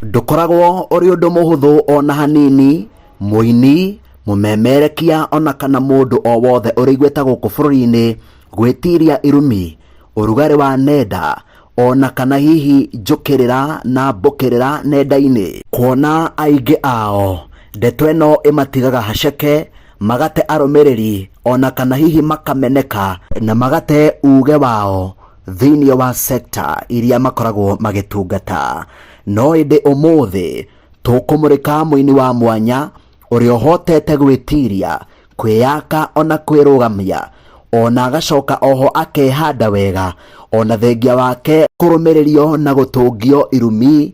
Ndũkoragwo ũrĩ ũndũ mũhũthũ ona hanini mũini, mũmemerekia ona kana mũndũ o wothe ũrĩ igweta gũkũ bũrũri-inĩ gwĩtiria irumi, ũrugarĩ wa nenda ona kana hihi njũkĩrĩra na mbũkĩrĩra nenda-inĩ. Kuona aingĩ ao ndeto ĩno ĩmatigaga haceke, magate arũmĩrĩri ona kana hihi makameneka na magate uge wao. thĩinĩ wa sekta iria makoragwo magĩtungata no ĩndĩ ũmũthĩ tũkũmũrĩka mũini wa mwanya ũrĩa ũhotete gwĩtiria kwĩyaka ona kwĩrũgamia ona agacoka oho akehanda wega ona thengia wake kũrũmĩrĩrio na gũtũngio irumi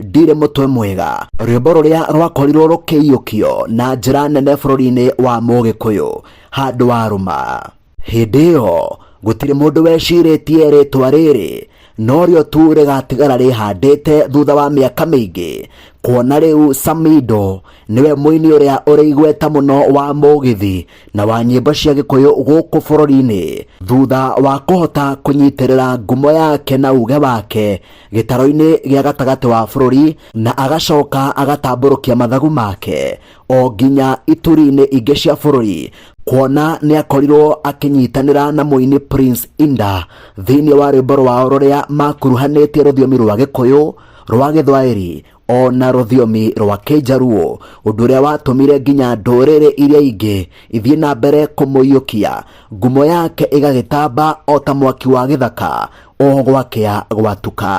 ndirĩ mũtwe mwega rwĩmbo rũrĩa rwakorirwo rũkĩiyũkio na njĩra nene bũrũri-inĩ wa mũgĩkũyũ handũ wa rũma hĩndĩ ĩyo gũtirĩ mũndũ wecirĩtie rĩtwa rĩrĩ no rĩo tu rĩgatigara rĩhandĩte thutha wa mĩaka mĩingĩ kuona rĩu samido nĩwe mũini ũrĩa ũrĩ igweta mũno wa mũgithi na wa nyĩmbo cia gĩkũyũ gũkũ bũrũri-inĩ thutha wa kũhota kũnyitĩrĩra ngumo yake na uge wake gĩtaro-inĩ gĩa gatagatĩ wa bũrũri na agacoka agatambũrũkia mathagu make o nginya ituri-inĩ ingĩ cia bũrũri kuona nĩ akorirwo akĩnyitanĩra na mũini Prince Inda thĩinĩ wa rwĩmbo rwao rũrĩa makuruhanĩtie rũthiomi rwa gĩkũyũ rwa gĩthwaĩri o na rũthiomi rwa kĩnjaruo ũndũ ũrĩa watũmire nginya ndũrĩrĩ iria ingĩ ithiĩ na mbere kũmũiyũkia ngumo yake ĩgagĩtamba o ta mwaki wa gĩthaka o gwakĩa gwatuka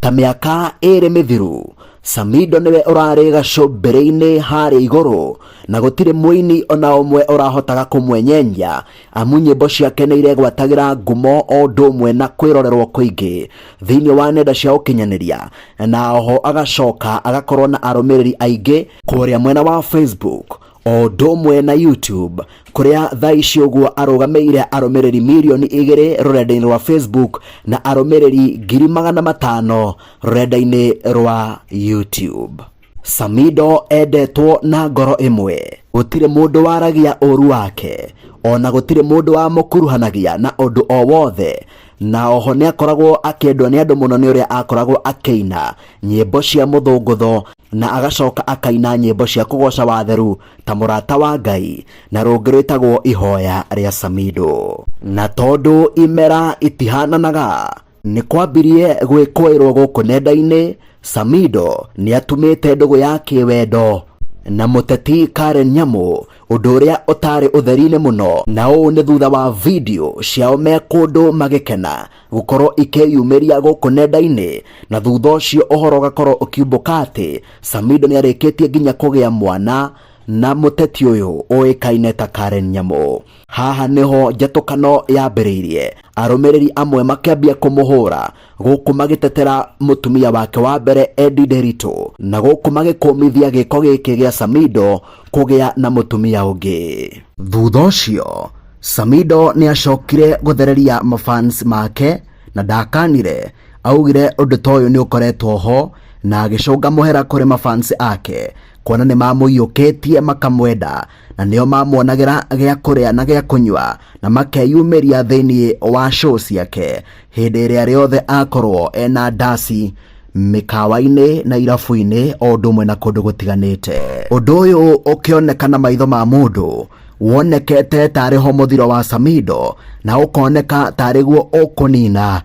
ta mĩaka ĩrĩ mĩthiru samido nĩwe ũrarĩ gacũmbĩrĩ-inĩ harĩa igũrũ na gũtirĩ mũini ona ũmwe ũrahotaga kũmwenyenya amu nyĩmbo ciake nĩ iregwatagĩra ngumo o ũndũ ũmwe na kwĩrorerwo kũingĩ thĩinĩ wa nenda cia ũkinyanĩria na oho agacoka agakorwo na arũmĩrĩri aingĩ kũrĩa mwena wa Facebook o ũndũ ũmwe na YouTube kũrĩa thaa ici ũguo arũgamĩire arũmĩrĩri mirioni igĩrĩ rũrenda-inĩ rwa Facebook na arũmĩrĩri ngiri magana matano rũrenda-inĩ rwa YouTube. Samido endetwo na ngoro ĩmwe, gũtirĩ mũndũ waragia ũũru wake, o na gũtirĩ mũndũ wamũkuruhanagia na ũndũ o wothe, na oho nĩ akoragwo akĩendwo nĩ andũ mũno nĩ ũrĩa akoragwo akĩina nyĩmbo cia mũthũngũtho na agacoka akaina nyĩmbo cia kũgoca watheru ta mũrata wa Ngai na rũngĩ rwĩtagwo ihoya rĩa Samido. Na tondũ imera itihananaga, Nĩ kwambirie gwĩkũĩrwo gũkũ nenda-inĩ, Samido nĩ atumĩte ndũgũ ya kĩwendo na mũteti Karen Nyamu, ũndũ ũrĩa ũtarĩ ũtheri-inĩ mũno, na ũũ nĩ thutha wa video ciao me kũndũ magĩkena gũkorwo ikĩyumĩria gũkũ nenda-inĩ, na thutha ũcio ũhoro ũgakorwo ũkiumbũka atĩ Samido nĩ arĩkĩtie nginya kũgĩa mwana na mũteti ũyũ ũĩkaine ta Karen Nyamu. haha nĩho njatũkano yambĩrĩirie arũmĩrĩri amwe makĩambia kũmũhũra gũkũ magĩtetera mũtumia wake wa mbere Eddie Nderitu na gũkũ magĩkũmithia gĩko gĩkĩ gĩa Samido kũgĩa na mũtumia ũngĩ thutha ũcio Samido nĩacokire gũthereria mafans make na ndakanire augire ũndũ ta ũyũ nĩũkoretwo ho na agĩcũnga mũhera kũrĩ mafans ake kuona nĩmamũiyũkĩtie makamwenda na nĩo mamuonagĩra gĩa kũrĩa na gĩa kũnyua na makeyumĩria thĩinĩ wa show ciake hĩndĩ ĩrĩa rĩothe akorwo ena ndasi mĩkawa-inĩ na irabu-inĩ o ũndũ ũmwe na kũndũ gũtiganĩte ũndũ ũyũ ũkĩoneka na maitho ma mũndũ wonekete tarĩ ho mũthiro wa samido na ũkoneka tarĩ guo ũkũnina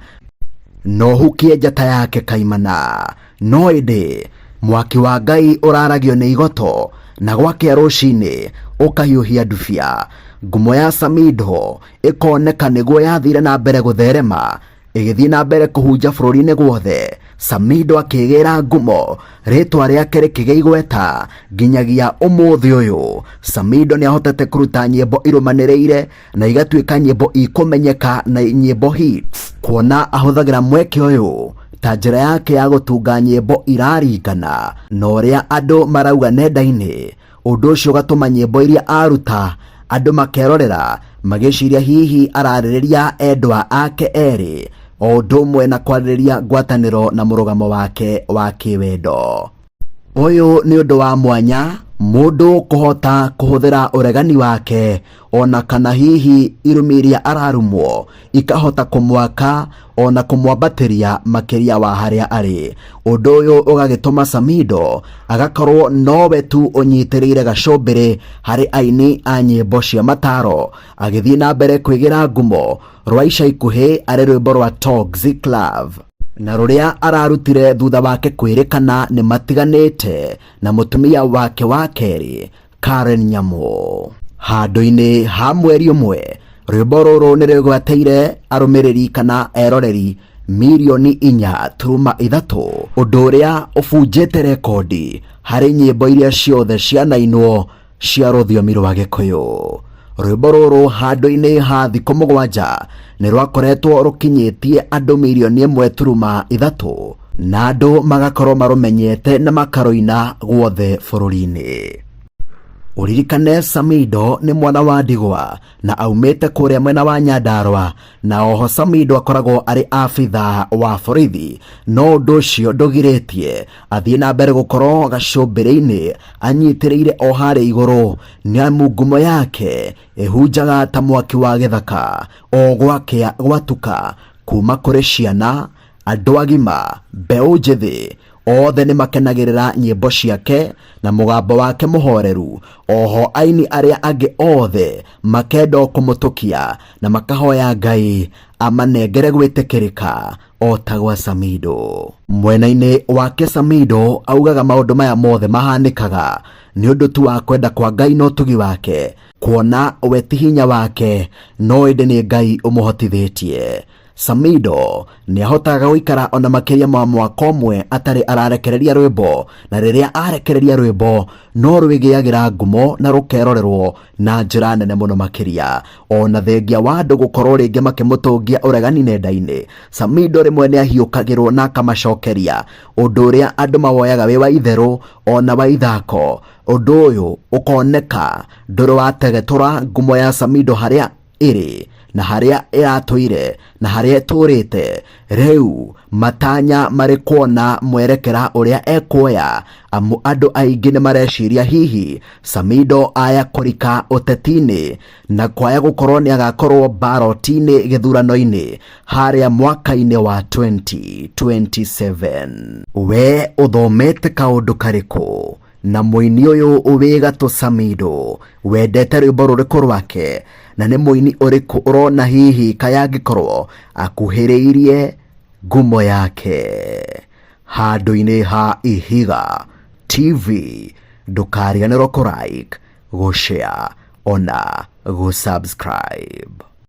no hukie njata yake kaimana No ĩndĩ mwaki wa Ngai ũraragio nĩ igoto, na gwakĩa rũcinĩ ũkahiũhia ndubia. Ngumo ya Samidoh ĩkoneka nĩguo yathiire na mbere gũtherema, ĩgĩthiĩ na mbere kũhunja bũrũri-inĩ guothe. Samidoh akĩgĩĩra ngumo, rĩĩtwa rĩake rĩkĩgĩa igweta nginyagia ũmũthĩ ũyũ. Samidoh nĩ ahotete kũruta nyĩmbo irũmanĩrĩire na igatuĩka nyĩmbo ikũmenyeka na nyĩmbo hits kuona ahũthagĩra mweke ũyũ ta njĩra yake ya gũtunga nyĩmbo iraringana na ũrĩa andũ marauga nenda-inĩ ũndũ ũcio ũgatũma nyĩmbo iria aruta andũ makerorera magĩciria hihi ararĩrĩria endwa ake erĩ o ũndũ ũmwe na kwarĩrĩria ngwatanĩro na mũrũgamo wake wa kĩwendo Ũyũ nĩ ũndũ wa mwanya mũndũ kũhota kũhũthĩra ũregani wake ona kana hihi irumi iria ararumwo ikahota kũmwaka ona kũmwambatĩria makĩria wa harĩa arĩ. Ũndũ ũyũ ũgagĩtũma Samido agakorwo nowe tu ũnyitĩrĩire gacũmbĩrĩ harĩ aini a nyĩmbo cia mataro agĩthiĩ na mbere kwĩgĩra ngumo rwa ica ikuhĩ arĩ rwĩmbo rwa Toxic Love na rũrĩa ararutire thutha wake kwĩrĩkana nĩ matiganĩte na mũtumia wake wa kerĩ Karen Nyamũ. Handũ-inĩ ha mweri ũmwe, rwĩmbo rũrũ nĩ rwĩgwateire arũmĩrĩri kana eroreri mirioni inya turuma ithatũ ũndũ ũrĩa ũbunjĩte rekondi harĩ nyĩmbo iria ciothe cianainwo cia rũthiomi rwa gĩkũyũ rwĩmbo rũrũ handũ-inĩ ha thikũ mũgwanja nĩ rwakoretwo rũkinyĩtie andũ mirioni ĩmwe turuma ithatũ na andũ magakorwo marũmenyete na makarũina guothe bũrũri-inĩ ũririkane samido nĩ mwana wa ndigwa na aumĩte kũrĩa mwena wa nyandarwa na oho Samido akoragwo arĩ abitha wa borithi no ũndũ ũcio ndũgirĩtie athiĩ na mbere gũkorwo gacũmbĩrĩ-inĩ anyitĩrĩire o harĩa igũrũ nĩamu ngumo yake ĩhunjaga ta mwaki wa gĩthaka o gwakĩa gwatuka kuma kũrĩ ciana Andũ agima, mbeũ njĩthĩ, othe nĩ makenagĩrĩra nyĩmbo ciake na mũgambo wake mũhoreru, oho aini arĩa angĩ othe makenda o kũmũtũkia na makahoya Ngai amanengere gwĩtĩkĩrĩka o ta gwa Samido. Mwena-inĩ wake Samido augaga maũndũ maya mothe mahanĩkaga nĩ ũndũ tu wa kwenda kwa Ngai na ũtugi wake, kuona we ti hinya wake no ĩndĩ nĩ Ngai ũmũhotithĩtie. Samido nĩ ahotaga gũikara ona makĩria ma mwaka ũmwe atarĩ ararekereria rwĩmbo na rĩrĩa arekereria rwĩmbo no rwĩgĩagĩra ngumo na rũkerorerwo na njĩra nene mũno makĩria ona thengia wa andũ gũkorwo rĩngĩ makĩmũtũngia ũregani nenda-inĩ Samido rĩmwe nĩ ahiũkagĩrwo na akamacokeria ũndũ ũrĩa andũ mawoyaga wĩ wa itherũ ona wa ithako ũndũ ũyũ ũkoneka ndũrĩ wategetũra ngumo ya Samido harĩa ĩrĩ na harĩa ĩratũire na harĩa ĩtũrĩte rĩu matanya marĩ kuona mwerekera ũrĩa ekuoya amu andũ aingĩ nĩ mareciria hihi Samido aya kũrika ũteti-inĩ na kwaya gũkorwo nĩ agakorwo mbaroti-inĩ gĩthurano-inĩ harĩa mwaka-inĩ wa 2027 we ũthomete kaũndũ karĩkũ na mũini ũyũ wĩ gatũ samido wendete rwĩmbo rũrĩkũ rwake na nĩ mũini ũrĩkũ ũrona hihi kaya angĩkorwo akuhĩrĩirie ngumo yake handũ-inĩ ha ihiga tv ndũkariganĩrwo kũrike gũshare ona gũsubscribe